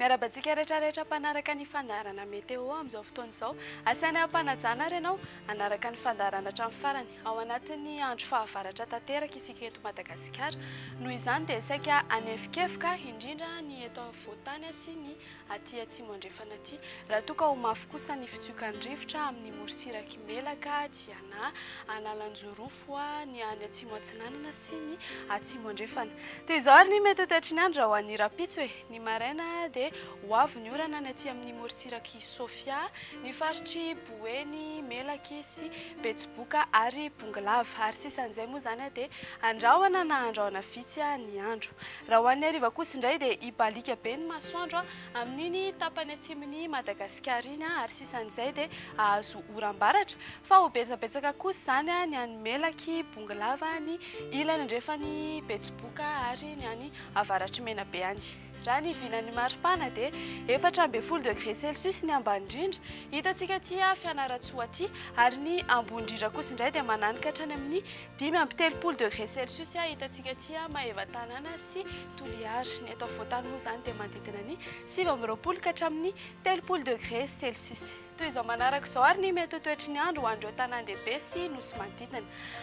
Miarahaba antsika rehetra rehetra mpanaraka ny fandaharana météo amin'izao fotoana izao. Asaina hampanajana ary ianao hanaraka ny fandaharana hatramin'ny farany. Ao anatin'ny andro fahavaratra tanteraka isika eto Madagasikara. Noho izany dia saika hanefokefoka indrindra ny eto afovoan-tany sy ny aty atsimo andrefana aty. Raha toa ka ho mafy kosa ny fitsiokan'ny rivotra amin'ny morotsirak'i Melaka dia na Analanjorofo ny any atsimo atsinanana sy ny atsimo andrefana. Dia izao ary ny mety ho toetry ny andro ho an'ny rahampitso e! Ny maraina dia ho avy ny orana any aty amin'ny morotsirak'i Sofia, ny faritr'i Boeny, Melaky sy Betsiboka ary Bongolava. Ary sisa an'izay moa izany dia andrahona na andrahona vitsy ny andro. Raha ho an'ny hariva kosa indray dia hibaliaka be ny masoandro amin'iny tapany atsimon'i Madagasikara iny ary sisan'izay dia hahazo oram-baratra fa ho betsabetsaka kosa izany ny any Melaky, Bongolava, ny ilany andrefan'i Betsiboka ary ny any avaratr'i Menabe any. Raha ny vinan'ny maripana dia efatra ambin'ny folo degré celsius ny ambany indrindra hitantsika aty Fianarantsoa aty ary ny ambony indrindra kosa indray dia mananaka hatrany amin'ny Dimy amby telopolo degré celsius hitantsika aty Maevatanàna sy Toliara. Ny eto afovoan-tany moa izany dia manodidina ny sivy amby roapolo ka hatramin'ny telopolo degré celsius. Toy izao manaraka izao ary ny mety ho toetry ny andro ho an'ireo tanàn-dehibe sy nosy manodidina.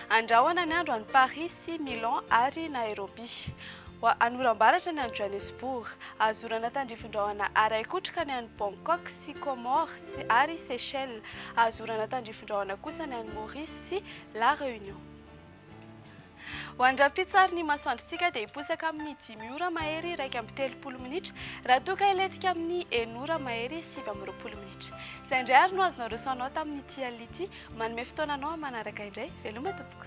Andrahona ny andro any Paris sy Milan ary Nairobi. Any oram-baratra ny any Johannesburg. Azo orana tandrifin-drahona araikotroka ny any Bangkok sy Comores ary Seychelles. Azo orana tandrifin-drahona kosa ny any Maurice sy La Réunion. Ho an'ny rahampitso ny masoandrontsika dia hiposaka amin'ny dimy ora mahery iraika amby telopolo minitra raha toa ka hilentika amin'ny enina ora mahery sivy amby roapolo minitra. Izay indray ary no azonao resy ho anao tamin'ity alina ity. Manome fotoana anao amin'ny manaraka indray. Veloma tompoko.